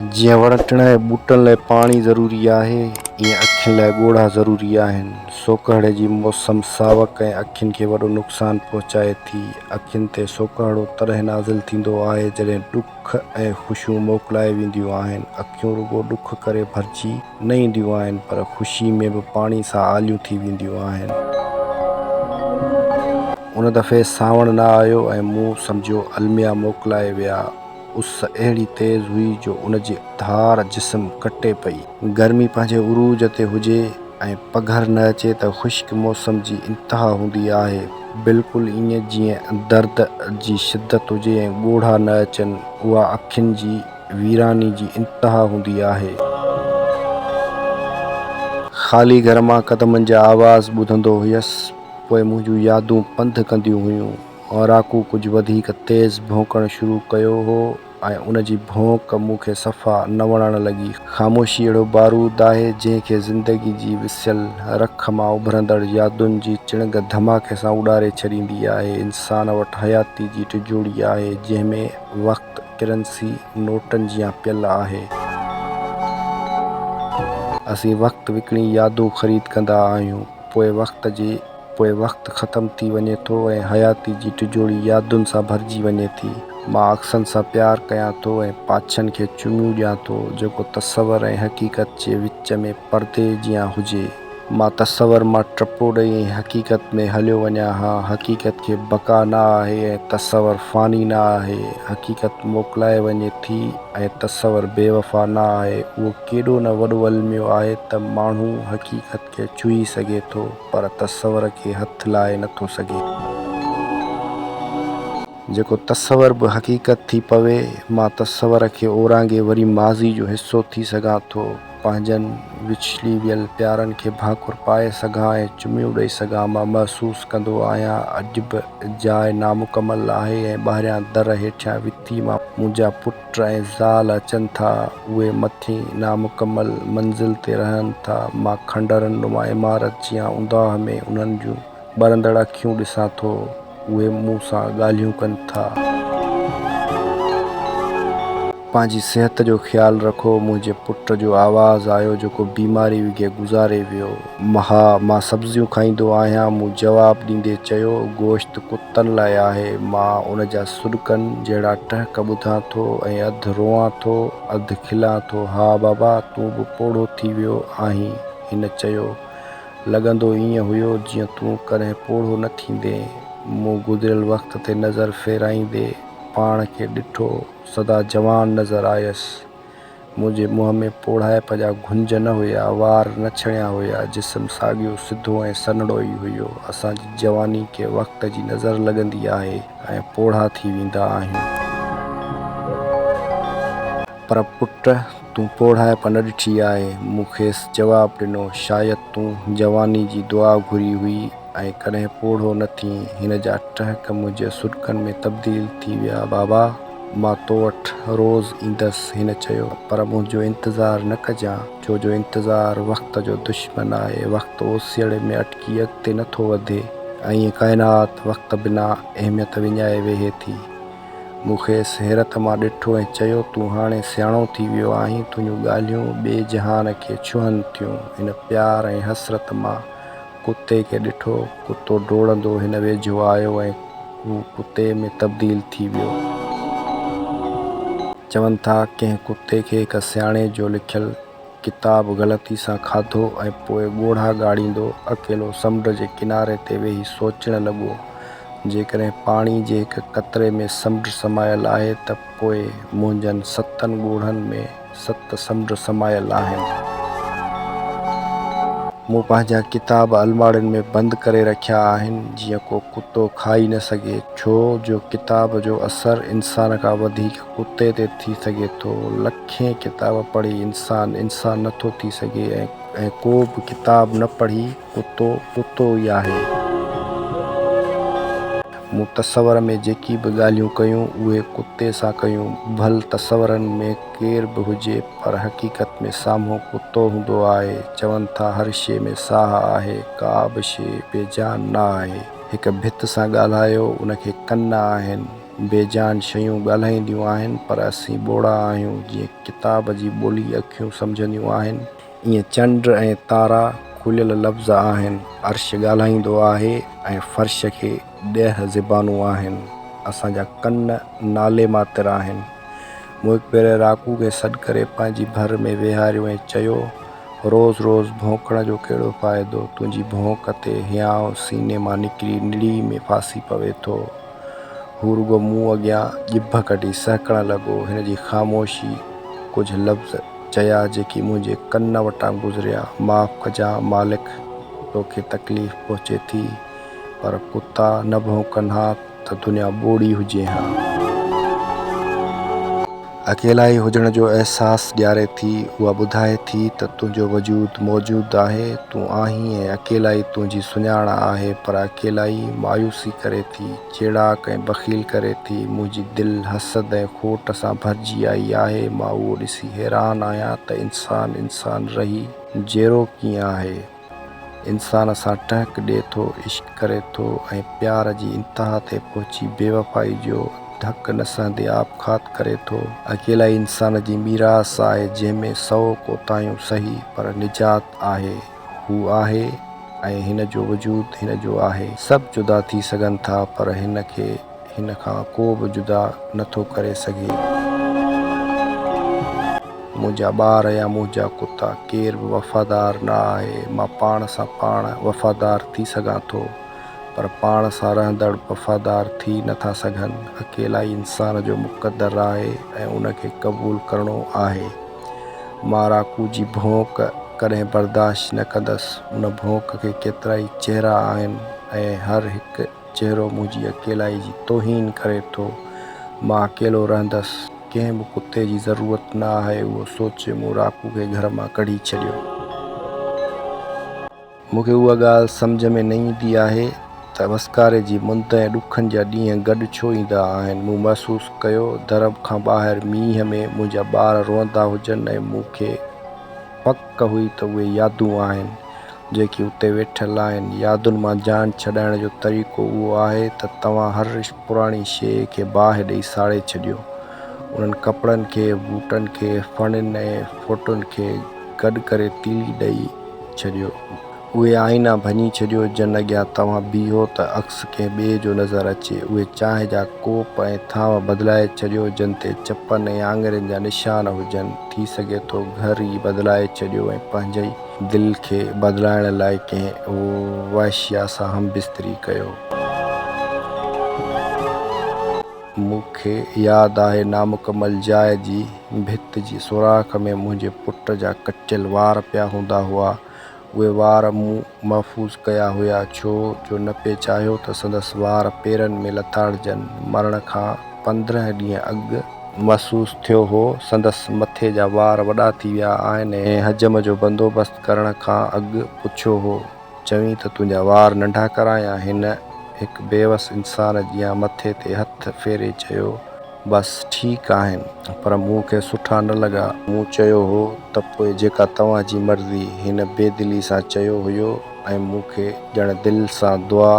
جيئن وڻ ٽڻ ۽ ٻوٽن لاء پاڻي ضروري آهي، ايئن اکين لاء ڳوڙها ضروري آهن. سوڪهڙي جي موسم ساوڪ ۽ اکين کي وڏو نقصان پهچائي ٿي. اکين تي سوڪهڙو تڏهن نازل ٿيندو آهي، جڏهن ڏک ۽ خوشيون موڪلائي وينديون آهن. اکيون رڳو ڏک ڪري ڀرجي نه اينديون آهن، پر خوشي ۾ به پاڻي سان آليون ٿي وينديون آهن. ان دفعي سانوڻ نه آيو ۽ مون سمجهيو الميا موڪلائي ويا. اس اهڙي تيز هئي جو ان جي ڌار جسم ڪٽي پئي. گرمي پنهنجي عروج تي هجي ۽ پگهر نه اچي ته خشڪ موسم جي انتها هوندي آهي. بلڪل ائين جيئن درد جي شدت هجي ۽ ڳوڙها نه اچن. اها اکين جي ويراني جي انتها هوندي آهي. خالي گهر مان قدمن جا آواز ٻڌندو هيس. پوء منهنجون يادون پنڌ ڪنديون هيون. اوراڪو ڪجهه وڌيڪ تيز ڀونڪڻ شروع ڪيو هو ۽ ان جي ڀونڪ مون کي صفا نه وڻڻ لڳي. خاموشي اهڙو بارود آهي، جنهن کي زندگي جي وسيل رک مان اڀرندڙ يادن جي چڻگ ڌماڪي سان اڏاري ڇڏيندي آهي. انسان وٽ حياتي جي ٽجوڙي آهي، جنهن ۾ وقت ڪرنسي نوٽن جيان پيل آهي. اسين وقت وڪڻي يادون خريد ڪندا آهيون، پوء وقت جي. پوء وقت ختم ٿي وڃي ٿو ۽ حياتي جي ٽجوڙي يادن سان ڀرجي وڃي ٿي. مان عڪسن سان پيار ڪيان ٿو ۽ پاڇن کي چميون ڏيان ٿو، جيڪو تصور ۽ حقيقت جي وچ ۾ پردي جيان هجي. مان تصور مان ٽپو ڏئي ۽ حقيقت ۾ هليو وڃان ها. حقيقت کي بقا نه آهي ۽ تصور فاني نه آهي. حقيقت موڪلائي وڃي ٿي ۽ تصور بي وفا نه آهي. اهو ڪيڏو نه وڏو الميو آهي ته ماڻهو حقيقت. کي ڇهي سگهي ٿو پر تصور کي هٿ لائي نه ٿو سگهي. جيڪو تصور به حقيقت ٿي پوي، مان تصور کي اورانگهي وري ماضي جو حصو ٿي سگهان ٿو، پنهنجن وڇلي ويل پيارن کي ڀانڪر پائي سگهان ۽ چميون ڏئي سگهان. مان محسوس ڪندو آهيان اڄ به جاء نامڪمل آهي ۽ ٻاهريان در هيٺيان وتي مان منهنجا پٽ، ٽائين زال اچن ٿا، اهي مٿين نامڪمل منزل تي رهن ٿا، مان کنڊرن نما عمارت جيان اونداهه ۾ انهن جون ٻرندڙ اکيون ڏسان ٿو، اهي مون سان ڳالهيون ڪن ٿا. پنهنجي صحت جو خيال رکو، منهنجي پٽ جو آواز آيو جيڪو بيماري وگهي گذاري ويو. مها، مان سبزيون کائيندو آهيان. مون جواب ڏيندي چيو، گوشت ڪتن لاء آهي. مان ان جا سڏڪن جهڙا ٽهڪ ٻڌان ٿو ۽ اڌ روئان ٿو، اڌ کلان ٿو. ها بابا، تون به پوڙهو ٿي ويو آهين. هن چيو، لڳندو ائين هيو جيئن تون ڪڏهن پوڙهو نه ٿيندين. مون گذريل وقت تي نظر ڦيرائيندي پاڻ کي ڏٺو. سدا جوان نظر آيس. منهنجي منهن ۾ پوڙهائپ جا گهنج نه هيا، وار نه ڇڻيا هيا، جسم ساڳيو سڌو ۽ سنهڙو ئي هيو. اسان جي جواني کي وقت جي نظر لڳندي آهي ۽ پوڙها ٿي ويندا آهيون. پر پٽ تون پوڙهائپ نه ڏٺي آهي. مون کيس جواب ڏنو، شايد تون جواني جي دعا گهري هئي ۽ ڪڏهن پوڙهو نه ٿين. هن جا ٽهڪ منهنجي سڏڪن ۾ تبديل ٿي ويا، بابا! مان تو وٽ روز ايندس هن چيو پر منهنجو انتظار نه ڪجان ڇو جو انتظار وقت جو دشمن آهي وقت اوسيئڙي ۾ اٽڪي اڳتي نه ٿو وڌي ۽ ڪائنات وقت بنا اهميت وڃائي ويهي ٿي مون کيس حيرت مان ڏٺو ۽ چيو تون هاڻي سياڻو ٿي ويو آهين تنهنجون ڳالهيون ٻئي جهان کي ڇهن ٿيون هن پيار ۽ حسرت مان ڪتي کي ڏٺو، ڪتو ڊوڙندو هن ويجهو آيو ۽ هو ڪتي ۾ تبديل ٿي ويو. چون ٿا ڪنهن ڪتي کي هڪ سياڻي جو لکيل ڪتاب غلطي سان کاڌو ۽ پوء ڳوڙها ڳاڙيندو اڪيلو سمنڊ جي ڪناري تي ويهي سوچڻ لڳو، جيڪڏهن پاڻي جي هڪ قطري ۾ سمنڊ سمايل آهي ته پوء منهنجن ستن ڳوڙهن ۾. ست سمنڊ سمايل آهن. مون پنهنجا ڪتاب الماڙين ۾ بند ڪري رکيا آهن، جيئن ڪو ڪتو کائي نه سگهي، ڇو جو ڪتاب جو اثر انسان کان وڌيڪ ڪتي تي ٿي سگهي ٿو. لکين ڪتاب پڙهي انسان انسان نه ٿو ٿي سگهي ۽ ڪو به ڪتاب نه پڙهي. ڪتو ڪتو ئي آهي. مون تصور ۾ جيڪي به ڳالهيون ڪيون اهي ڪتي سان ڪيون. ڀل تصورن ۾ ڪير به هجي پر حقيقت ۾ سامهون ڪتو هوندو آهي. چون ٿا هر شيء ۾ ساهه آهي. ڪا به شيء بي جان نه آهي. هڪ ڀت سان ڳالهايو ان کي ڪن نه آهن. بي جان شيون ڳالهائينديون آهن پر اسين ٻوڙا آهيون جيئن ڪتاب جي ٻولي اکيون سمجهنديون آهن. ايئن چنڊ ۽ تارا کليل لفظ آهن. عرش ڳالهائيندو آهي ۽ فرش کي ڏهه زبانون آهن. اسان جا ڪن نالي ماتر آهن. مون هڪ ڀيري راڪو کي سڏ ڪري پنهنجي ڀر ۾ ويهاريو ۽ چيو، روز روز ڀونڪڻ جو ڪهڙو فائدو؟ تنهنجي ڀونڪ تي هيانء سيني مان نڪري نڙي ۾ ڦاسي پوي ٿو. هو رڳو مون اڳيان ڄڀ ڪڍي سهڪڻ لڳو. هن جي خاموشي ڪجهه لفظ چيا جيڪي منهنجي ڪن وٽان گذريا، معاف ڪجان مالڪ توکي تڪليف پهچي ٿي پر ڪتا نه ڀونڪن ها ته دنيا ٻوڙي هجي ها. اڪيلائي هجڻ جو احساس ڏياري ٿي، اها ٻڌائي ٿي ته تنهنجو وجود موجود آهي، تون آهين ۽ اڪيلائي تنهنجي سڃاڻ آهي، پر اڪيلائي مايوسي ڪري ٿي، چيڙاڪ ۽ بخيل ڪري ٿي، منهنجي دل حسد ۽ کوٽ سان ڀرجي آئي آهي، مان اهو ڏسي حيران آهيان ته انسان انسان رهي جيئرو ڪيئن آهي. انسان سان ٽهڪ ڏئي ٿو، عشق ڪري ٿو ۽ پيار جي انتها تي پهچي بيوفائي جو ڌڪ نه سهندي آپگهات ڪري ٿو. اڪيلائي انسان جي ميراث آهي، جنهن ۾ سؤ ڪوتاهيون سهي پر نجات آهي. هو آهي ۽ هن جو وجود هن جو آهي. سڀ جدا ٿي سگهن ٿا پر هن کي. هن کان ڪو به جدا نه ٿو ڪري سگهي. منهنجا ٻار يا منهنجا ڪتا ڪير به وفادار نه آهي. مان پاڻ سان پاڻ وفادار ٿي سگهان ٿو پر پاڻ سان رهندڙ وفادار ٿي نه ٿا سگهن. اڪيلائي انسان جو مقدر آهي ۽ ان کي قبول ڪرڻو آهي. مان راڪو جي ڀونڪ ڪڏهن برداشت نه ڪندس. ان ڀونڪ کي ڪيترائي چهرا آهن ۽ هر هڪ. چهرو منهنجي اڪيلائي جي توهين ڪري ٿو. مان اڪيلو رهندس. ڪنهن به ڪتي جي ضرورت نه آهي. اهو سوچي مون راڪو کي گهر مان ڪڍي ڇڏيو. مون کي اها ڳالهه سمجهه ۾ نه ايندي آهي ته وسڪاري جي مند ۽ ڏکن جا ڏينهن گڏ ڇو ايندا آهن. مون محسوس ڪيو در کان ٻاهر مينهن ۾ منهنجا ٻار روئندا هجن ۽ مون کي پڪ هئي ته اهي يادون آهن. جيڪي اتي ويٺل آهن. يادن مان جان ڇڏائڻ جو طريقو اهو آهي ته توهان هر پراڻي شيء کي باهه ڏئي ساڙي ڇڏيو. انهن ڪپڙن کي، بوٽن کي، ڦڻين ۽ ڦوٽن کي گڏ ڪري تيلي ڏئي ڇڏيو. اهي آئينا ڀڃي ڇڏيو جن اڳيان توهان بيهو ته عڪس ڪنهن ٻئي جو نظر اچي. اهي چانهه جا ڪوپ ۽ ٿانو بدلائي ڇڏيو جن تي چپن ۽ آڱرين جا نشان هجن. ٿي سگهي ٿو گهر ئي بدلائي ڇڏيو ۽ پنهنجي ئي دل کي بدلائڻ لاء ڪنهن وحشيا سان هم بستري ڪيو. مون کي ياد آهي نامڪمل جاء جي ڀت جي سوراخ ۾ منهنجي پٽ جا ڪٽيل وار پيا هوندا هئا. اهي وار مون محفوظ ڪيا هيا ڇو جو نه پئي چاهيو ته سندس وار پيرن ۾ لتاڙجن. مرڻ کان پندرهن ڏينهن اڳ. محسوس ٿيو هو، سندس مٿي جا وار وڏا ٿي ويا آهن ۽ حجم جو بندوبست ڪرڻ کان اڳ پڇيو هو، چوين ته تنهنجا وار ننڍا ڪرايان؟ هن هڪ بيوس انسان جيان مٿي تي هٿ ڦيري چيو، بس ٺيڪ آهن، پر مون کي سٺا نه لڳا. مون چيو هو ته پوء جيڪا توهان جي مرضي. هن بيدلي سان چيو هيو ۽ مون کي ڄڻ دل سان دعا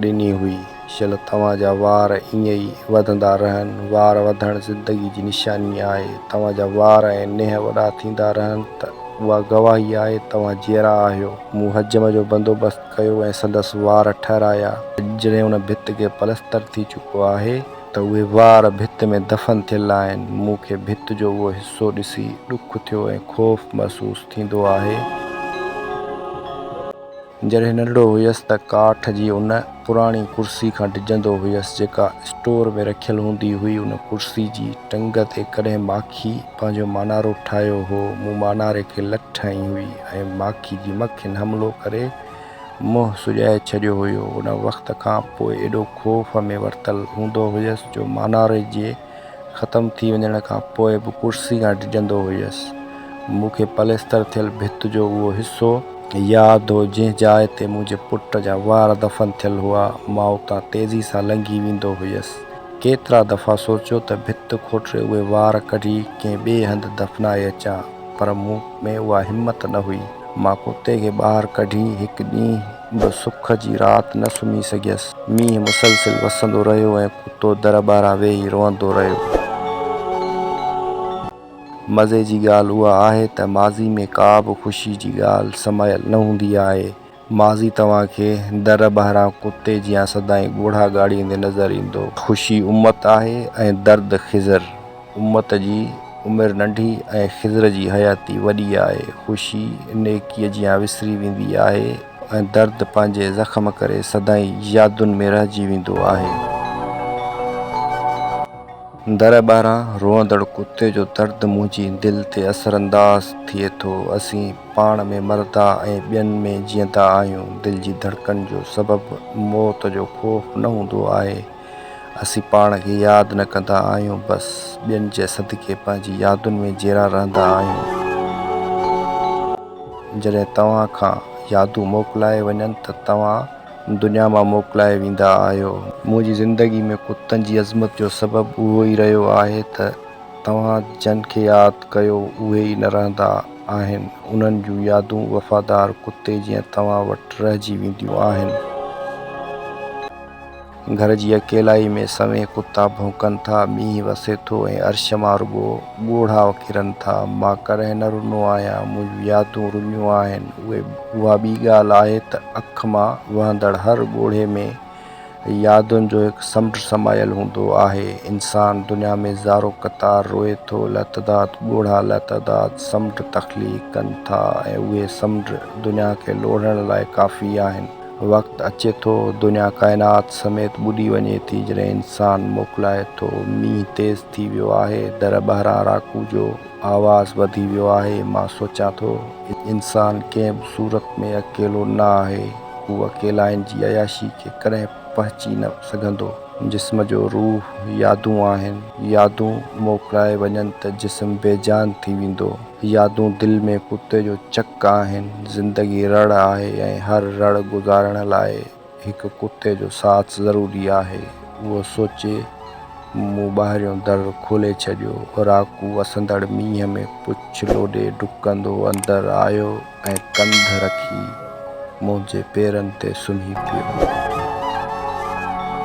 ڏني هئي. شل توهان جا وار ائين ئي وڌندا رهن. وار وڌڻ زندگي جي نشاني آهي. توهان جا وار ۽ ننهن وڏا ٿيندا رهن ته اها گواهي آهي توهان جيئرا آهيو. مون حجم جو بندوبست ڪيو ۽ سندس وار ٺهرايا. جڏهن ان ڀت کي پلستر ٿي چڪو آهي ته اهي وار ڀت ۾ دفن ٿيل آهن. مون کي ڀت جو اهو حصو ڏسي ڏک ٿيو ۽ خوف محسوس ٿيندو آهي. جڏهن ننڍڙو هيس ته ڪاٺ جي ان پراڻي ڪرسي کان ڊڄندو هيس، جيڪا اسٽور ۾ رکيل هوندي هئي. ان ڪرسي جي ٽنگ تي ڪڏهن ماکي پنهنجو مانارو ٺاهيو هو. مون ماناري کي لٺ هنئي هئي ۽ ماکي جي مکين حملو ڪري منهن سڄائي ڇڏيو هيو. ان وقت کان پوء ايڏو خوف ۾ ورتل هوندو هيس جو ماناري جي ختم ٿي وڃڻ کان پوء به ڪرسي کان ڊڄندو هيس. مون کي پليستر ٿيل ڀت جو اهو حصو. ياد هو، جنهن جاء تي منهنجي پٽ جا وار دفن ٿيل هئا، مان اتان تيزي سان لنگهي ويندو هيس. ڪيترا دفعا سوچيو ته ڀت کوٽري اهي وار ڪڍي ڪنهن ٻئي هنڌ دفنائي اچان، پر مون ۾ اها همت نه هئي. مان ڪتي کي ٻاهر ڪڍي هڪ ڏينهن به سک جي رات نه سمهي سگهيس. مينهن مسلسل وسندو رهيو ۽ ڪتو در ٻاهران ويهي روئندو رهيو. مزي جي ڳالهه اها آهي ته ماضي ۾ ڪا به خوشي جي ڳالهه سمايل نه هوندي آهي. ماضي توهان کي در ٻاهران ڪتي جيان سدائين ڳوڙها ڳاڙيندي نظر ايندو. خوشي امت آهي ۽ درد خضر. امت جي عمر ننڍي ۽ خضر جي حياتي وڏي آهي. خوشي نيڪيء جيان وسري ويندي آهي ۽ درد پنهنجي زخم ڪري سدائين يادن ۾ رهجي ويندو آهي. در ٻاهران روئندڙ ڪتي جو درد منهنجي دل تي اثرانداز ٿئي ٿو. اسين پاڻ ۾ مردا ۽ ٻين ۾ جيئندا آهيون. دل جي ڌڙڪن جو سبب موت جو خوف نه هوندو آهي. اسين پاڻ کي ياد نه ڪندا آهيون بس ٻين جي صدقي پنهنجي يادن ۾ جيئرا رهندا آهيون. جڏهن توهان کان يادون موڪلائي وڃن ته توهان دنيا مان موڪلائي ويندا آهيو. منهنجي زندگي ۾ ڪتن جي عظمت جو سبب اهو ئي رهيو آهي ته توهان جن کي ياد ڪيو اهي ئي نه رهندا آهن. انهن جون يادون وفادار ڪتي جيان توهان وٽ رهجي وينديون آهن. گهر جي اڪيلائي ۾ سوين ڪتا ڀونڪن ٿا، مينهن وسي ٿو ۽ عرش مان رڳو ڳوڙها ڪرن ٿا. مان ڪڏهن نه رنو آهيان، منهنجون يادون رنيون آهن. اهي اها ٻي ڳالهه آهي ته اک مان وهندڙ هر ڳوڙهي ۾ يادن جو هڪ سمنڊ سمايل هوندو آهي. انسان دنيا ۾ زارو قطار روئي ٿو، لاتعداد ڳوڙها لاتعداد سمنڊ تخليق ڪن ٿا ۽ اهي سمنڊ دنيا کي لوڙهڻ لاء ڪافي آهن. وقت اچي ٿو، دنيا ڪائنات سميت ٻڏي وڃي ٿي، جڏهن انسان موڪلائي ٿو. مينهن تيز ٿي ويو آهي، در ٻاهران راڪو جو آواز وڌي ويو آهي. مان سوچيان ٿو، انسان ڪنهن به صورت ۾ اڪيلو نه آهي. هو اڪيلائين جي عياشي کي ڪڏهن پهچي نه سگهندو. جسم جو روح يادون آهن. يادون موڪلائي وڃن ته جسم بيجان ٿي ويندو. يادون دل ۾ ڪتي جو چڪ آهن، زندگي رڙ آهي ۽ هر رڙ گذارڻ لاء هڪ ڪتي جو ساٿ ضروري آهي. اهو سوچي مون ٻاهريون در کولي ڇڏيو. راڪو وسندڙ مينهن ۾ پڇ لوڏي ڊڪندو اندر آيو ۽ ڪنڌ رکي منهنجي پيرن تي سمهي پيو.